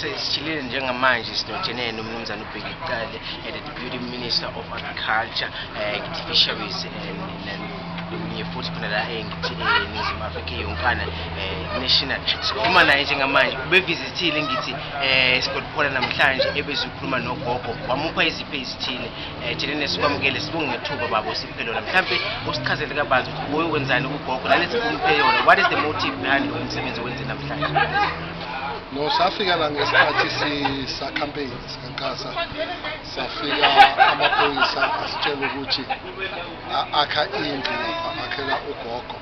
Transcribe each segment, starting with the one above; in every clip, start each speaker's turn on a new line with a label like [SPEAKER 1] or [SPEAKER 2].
[SPEAKER 1] Sesijilile njengamanje sinotshene nomnumzane uBheki Cele and the Deputy Minister of Agriculture, uh, Fisheries and, and kunye futhi khona la engithi eNingizimu Afrika yonkana eh, national sikhuluma naye njengamanje ubevizithile ngithi eh, sigodiphola namhlanje ebezikhuluma nogogo wamupha iziphe ezithile eh, jelene sikwamukele sibonge ngethuba babo siphe lona mhlawumbe usichazele kabanzi ukuthi uye wenzani kugogo nalesikumuphe yona what is the motive behind lo msebenzi owenze namhlanje No,
[SPEAKER 2] safika la ngesikhathi sisa campaign sikankasa safika amaphoyisa asitshela ukuthi akha indlu lapha akhela ugogo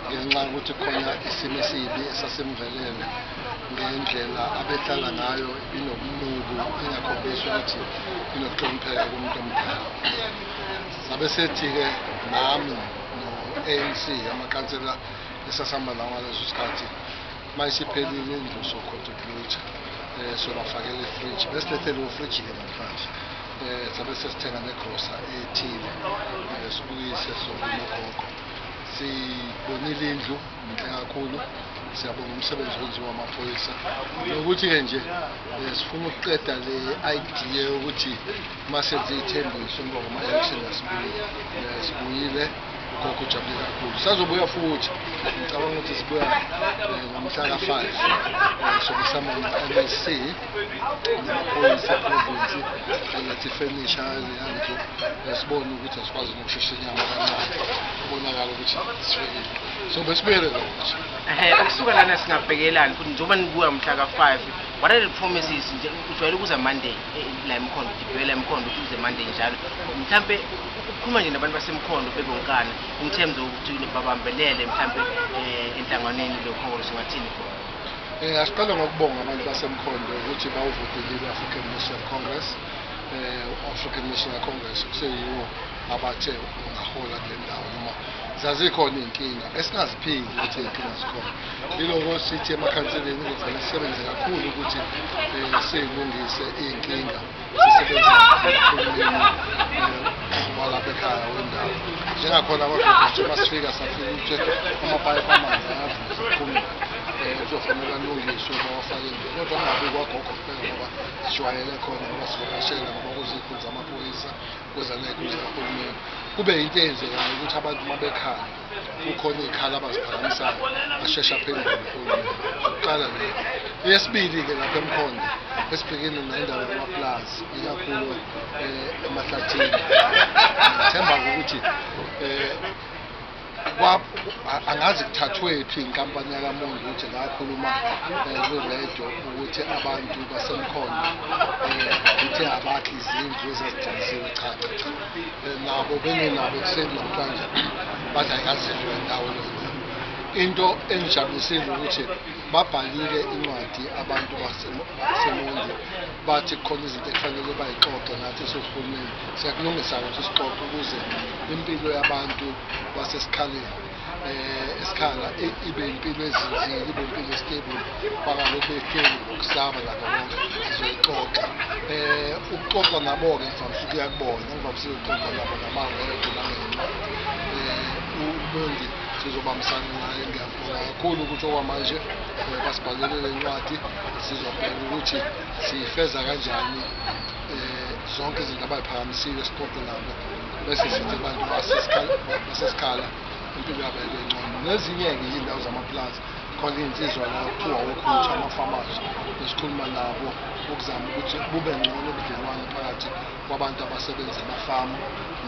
[SPEAKER 2] ngenxa yokuthi khona isimo esibi esasemvelele ngendlela abehlala ngayo inobunuku ingakhombisi ukuthi inokuhlonipheka kumuntu omdala sabe sethi-ke nami no-anc amakansela esasihamba lawo ngaleso sikhathi uma isiphelile indlu sokhotha ukuyitha um eh, sobafakela ifriji besilethele ufrijile namhlanje um eh, sabe sesithenga negrosa ethile um eh, sibuyise sokunogogo sibonile indlu inhle kakhulu siyabonga umsebenzi wenziwa amaphoyisa nokuthi-ke nje um sifuna ukuqeda le idea yokuthi uma senze iy'thembiso emva kwama-election asibuyile eh, sibuyile ugogo ujabule kakhulu sazobuya futhi ngicabanga ukuthi sibuya eh, ngomhla ka-five eh, sokusama ama-msc namaphoyisa eprovinsi angathi ifenisha eziyandlu sibone ukuthi asikwazi nokushesha inyama kancane kubonakala ukuthi sifikile so besibuyele kakuthi ukusuka lana
[SPEAKER 1] singabhekelani futhi njengoba nibuya mhla ka-five what are the promises nje ujwayele ukuza monday la emkhondo sibuyela emkhondo uze manje njalo mhlampe ukukhuluma nje nabantu basemkhondo bebonkana in terms of ukuthi babambelele mhlampe eh, enhlanganweni lokholo singathini khona Eh asiqale ngokubonga
[SPEAKER 2] abantu basemkhondo ukuthi bawuvotile i-African National Congress eh African National Congress kuseyiwo abathe ungahola kule ndawo noma zazikhona izinkinga esingaziphindi ukuthi izinkinga zikhona Iloko sithi emakhanseleni ukuthi sisebenze kakhulu ukuthi um siyilungise iy'nkinga sisebenze walapha ekhaya wendawo njengakhona abagqugquzwe uma sifika safika ukuthi amapayipi amanzi ayavuza kuphumile um kuzofanele alungiswe bawafake nje kodwa kungabi kwagogo kuphela ngoba sijwayele khona ngoba sivakashela ngoba kuzikhulu zamaphoyisa kuzaney'khulu zikahulumeni kube yinto eyenzekayo ukuthi abantu uma bekhala kukhona iy'khala abaziphakamisayo asheshe aphendule uhulumeni kuqala le eyesibili-ke lapha emkhonda esibhekene nendaba yamapulazi ikakhulu um eh, emahlathini ngithemba ukuthi um angazi kuthathwephi inkampani yakamonde ukuthi ngakhuluma um eh, kwiredio ukuthi abantu basemkhonda um eh, kuthe abakhi izindlu ezazigcinisewe cha cha cha nabo benginabo ekuseni namhlanje bathi ayikazihlwe ndawo lona into engijabulisile ukuthi babhalile incwadi abantu basemondi bathi khona izinto ekufanele bayixoxe nathi sohulumeni siyakulungisa ukuthi sixoxe ukuze impilo yabantu basesikhaleni eh, isikhala ibe impilo ezinzile ibe impilo estable bangalokhu behleli ngokusaba labo bonke sizoyixoxa eh ukuxoxa nabo-ke ngivamisa ukuya kubona ngivamisa ukuxoxa nabo ngamaredo nangencwadi um eh, ubendi sizobambisana naye ngiyabonga kakhulu ukuthi okwamanje eh, basibhalele le ncwadi sizobheka ukuthi siyifeza kanjani um zonke izinto abayiphakamisiwe sixoxe nabo bese sithi abantu basesikhala impilo yabo ibe ngcono nezinye-ke iy'ndawo zamapulazi khona iy'nsizwa la kuthiwa wokhutha amafamazi esikhuluma nabo ukuzama ukuthi bube ngcono ubudlelwane phakathi kwabantu abasebenza emafamu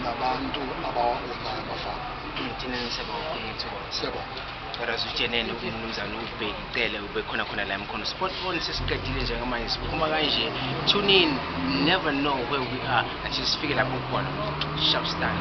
[SPEAKER 2] nabantu abawahonayo amafamu Thank
[SPEAKER 1] you.
[SPEAKER 2] Kodwa sitshenene
[SPEAKER 1] kumnumzane ubheki cele ubekhona khona la emkhono sport on sesiqedile njengamanje siphuma kanje tune in never know where we are until sifike lapho khona shop stand